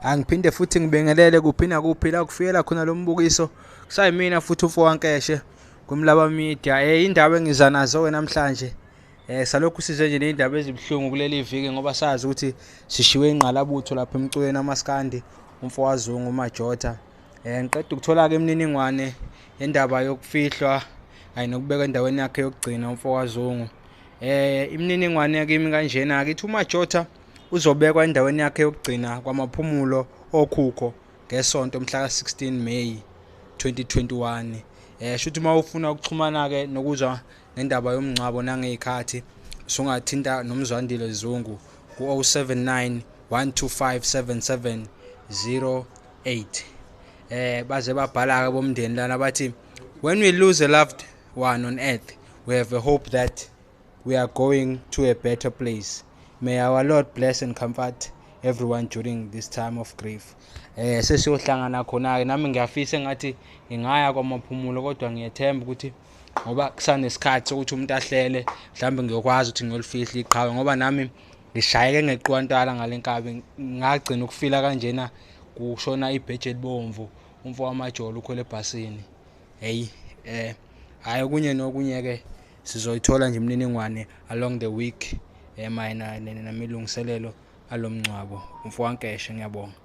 angiphinde futhi ngibingelele kuphi nakuphi la kufikela khona lo mbukiso kusayimina futhi ufowankeshe kumlaba media um indaba engiza nazo-ke namhlanje Eh salokhu size nje nezindaba ezibuhlungu kuleli viki ngoba sazi ukuthi sishiwe ingqalabutho lapha emculweni amaskandi umfowazungu uMajota. Eh ngiqeda ukuthola ke imininingwane yendaba yokufihlwa ayi nokubeka endaweni yakhe yokugcina umfowazungu. Eh imininingwane kimi kanjena ke uMajota uzobekwa endaweni yakhe yokugcina kwamaphumulo okhukho ngesonto mhla ka-16 May 2021 eh shuthi uma ufuna ukuxhumana ke nokuzwa ngendaba yomngcwabo nangey'khathi sungathinta nomzwandile zungu ku-079 125 7708 eh baze babhala-ke bomndeni lana bathi when we lose a loved one on earth we have a hope that we are going to a better place may our lord bless and comfort everyone during this time of grief eh sesiyohlangana khona-ke nami ngiyafisa engathi ngingaya kwamaphumulo kodwa ngiyethemba ukuthi ngoba kusanesikhathi sokuthi umuntu ahlele mhlawumbe ngiyokwazi ukuthi ngiyolifihla iqhawe ngoba nami ngishayeke ngeqiwantala ngale nkabi ngagcina ukufila kanjena kushona ibheji elibomvu umfo wamajolo ukhwele ebhasini heyi um hhayi okunye nokunye-ke sizoyithola nje imininingwane along the week um mayena namelungiselelo alo mngcwabo umfo wankeshe ngiyabonga